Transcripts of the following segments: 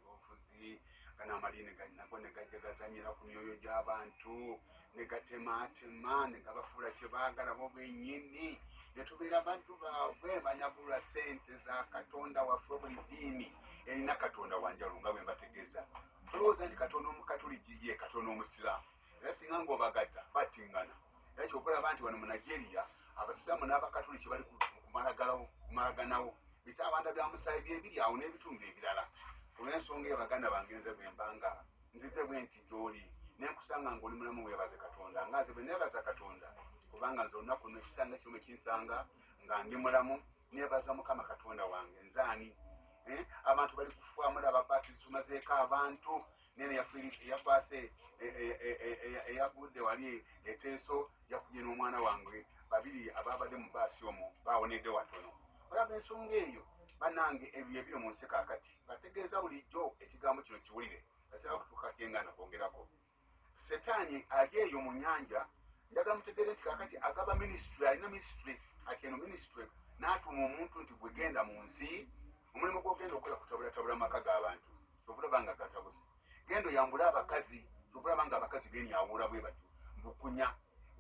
obufuzi gano amaliini nago ne gajja gazanyira ku myoyo gy'abantu ne gatemaatema ne gabafuula kye baagala bo bennyini ne tubeera baddu baabwe banyagulula sente za katonda waffe buli ddiini erina katonda wanjalo nga bwe mbategeeza tulowooza nti katonda omukatuliki ye katonda omusiraamu era singa ng'obagatta battingana era kyova olaba nti wano mu nigeria abasiraamu n'abakatuliki bali kumalaganawo bitaabanda bya musaayi byebiri awo n'ebitundu ebirala olw'ensonga eyo baganda bange nze bwembanga nzize bwe nti gyoli nenkusanga ng'oli mulamu weebaze katonda nga nze bwe neebaza katonda kubanga nze olunaku luno ekisanga kirumu ekinsanga nga ndi mulamu neebaza mukama katonda wange nzaani eh, abantu bali kufuamula ababaasi zitumazeeko abantu nene yakwase eyagudde wali eteeso yakumye n'omwana wange babiri ababadde mu baasi omu bawonedde watono olaba ensonga eyo banange ebyo ebiri mu nsi kakati bategeeza bulijjo ekigambo kino kiwulire asaba kutuuka kyengana kwongerako setaani ali eyo mu nyanja ndaga mutegere nti kakati agaba minisitry alina minisitry ati eno minisitry n'atuuma omuntu nti gwegenda mu nsi omulimu gwogenda okukola kutabulatabula amaka g'abantu kyovulaba nga gatabuzi genda oyambule abakazi kyovulaba nga abakazi benyawula bwe batyo mbukunya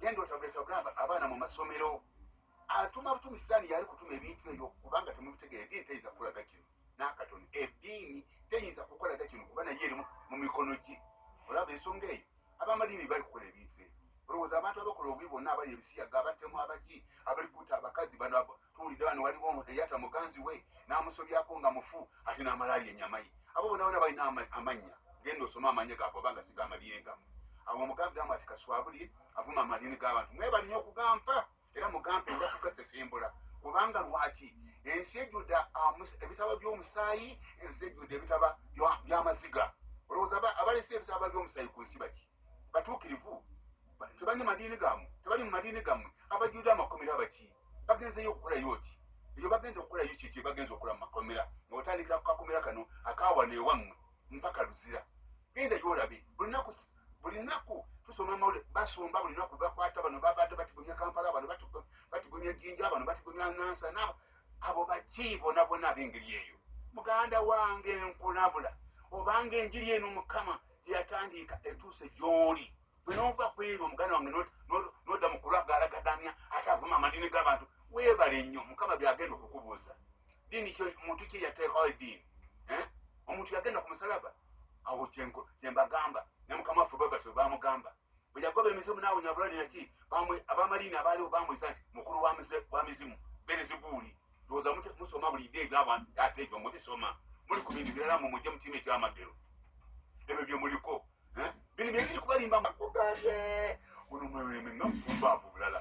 genda otabuletabule abaana mu masomero atuma butumi sitaani yali kutuma ebintu ebyo kubanga temubitegere eddiini teyinza kukolaga kino n'akatoni eddiini teyinza kukolaga kino kuba naye eri mu mikono gye olaba ensonga eyo abamadiini bali kukola ebintu ebyo olowooza abantu abakola obubi bonna abali ebisiyaga abatemu abaki abali kuta abakazi bano tuwulidde bano waliwo eyata muganzi we n'amusobyako nga mufu ate n'amalaali enyama ye abo bona bona balina amannya genda osoma amannya gago oba nga sigamalire gamu abo omugambi gamu ati kaswabuli avuma amadiini g'abantu mwe balina okugampa era mugambe nja kugasesembula kubanga lwaki ensi ejjudde ebitaba by'omusaayi ensi ejjudde ebitaba by'amaziga olowooza abalese ebitaba by'omusaayi ku nsi baki batuukirivu tebali mu madiini gamu tebali mu madiini gamu abajjudde amakomera abaki bagenzeyo okukolayo ki eyo bagenze okukolayo kyekye bagenze okukola mu makomera nga otandikira ku kakomera kano akaawana ewammwe mpaka luzira genda gyolabe lunaku buli naku tusoma amawulire basomba buli naku bakwata bano babadde batigumya kampala bano batigumya jinja bano batigumya nansa nabo abo baki bona bona abengeri eyo muganda wange nkulabula obanga enjiri eno mukama yatandiika etuuse gyoli bwenova kwebyo muganda wange noda mukulagalagadanya ate avuma amadini gabantu webale nnyo mukama byagenda okukubuuza dini kyo muntu kye yateekawo edini eh? omuntu yagenda ku musalaba awo kyenko kyembagamba ne mukama waffe baba tyo bamugamba bwe yagoba emizimu naawe nyabulali naki abamaliini abaaliwo bamuyita nti mukulu wa mizimu berezibuuli ndowooza musoma buli ide ebyabantu ate ebyo mubisoma muli ku bintu birala mu mujje mutima ekyamaddero ebyo bye muliko eh? bino byebiri kubalimba makugambye ono mweweme nga mufumba avu bulala